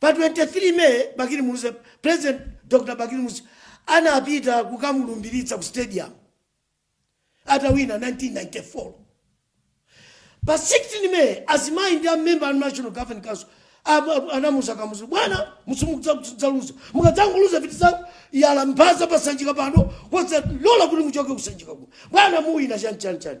Pa 23 May, Bakili Muluzi, President Dr Bakili Muluzi anapita kukamulumbiritsa ku stadium atawina 1994. Pa 16 May, azimayi ndi a member a National Governing Council ab- ab- anamuza Kamuzu bwana simukudzaluza mukadzangoluza ife tidzayala mphasa pasanjika pano koma osalola kuti muchoke kusanjika kuno bwana muwina chani chani chani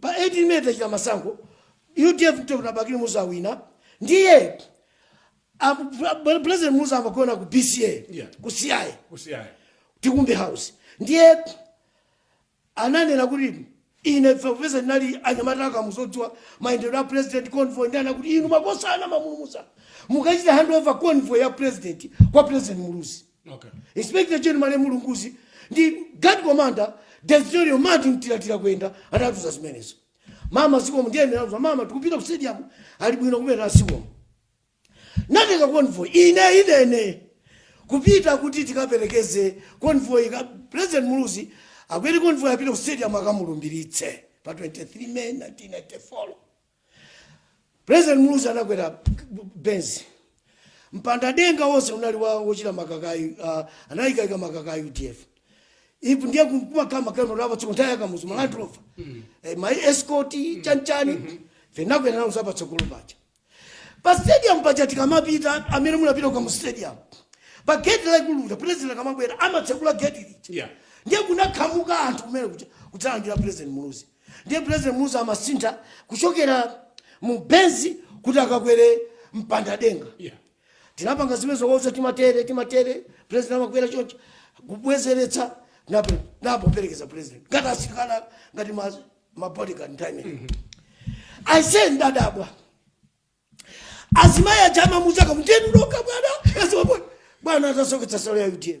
Pa 18 May tachita masankho, udf Dr Bakili Muluzi awina ndiye President Muluzi amagona ku BCA yeah. ku CI Tikumbe House ndiye ananena kuti ine popeza ndinali anyamata a Kamuzu odziwa mayendedwe a president convoy ndiye anati inu makosana mwamuluza mukachite handover convoy ya president kwa president Muluzi Okay. Inspector General Malemu Lunguzi ndi guard commander Desirio Martin Mtilatila kuyenda anatuza zimenezo. Mama zikomo ndiye ndinauza mama tikupita ku stadium ali bwino kumene zikomo. Ndatenga convoy ine inene kupita kuti tikaperekeze convoy kwa President Muluzi akwere convoy apite ku stadium akamulumbiritse pa 23 May 1994. president muluzi anakwera benz mpanda denga wonse unali wa wochita makakayi uh, anayikaika makakayi udf ipo ndiye kumakama kama lava tsoko ntaya kamuzu malandu lofa eh, my escort chanchani vinakwera nawo zapa tsokolo pacha pa stadium pacha tikamapita amene munapita kwa mu stadium pa gate la kumtunda president akamabwera amatsekula gate lija Yeah. ndiye kunakhamuka anthu kumene kuja kudzalandira president muluzi Ndiye President Muluzi amasintha kuchokera mu Benz kuti akakwere mpanda denga. Yeah. Tinapanga zimene zokauza timatere timatere president amakwera choncho kubwezeretsa napo napo perekeza president. Ngati asikana ngati ma ma bodyguard time. I say ndadabwa. Azimayi a Chama cha Kamuzu akumutenga bwana. Bwana atasoketsa nsalu ya UDF.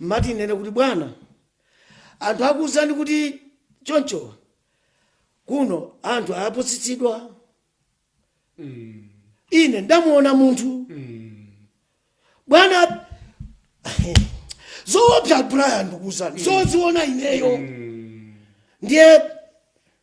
Ndimati ndinene kuti bwana anthu akuwuzani kuti choncho kuno anthu apusitsidwa ine ndamuona munthu bwana zoopsa brian ndikuuzani zoziona ineyo ndiye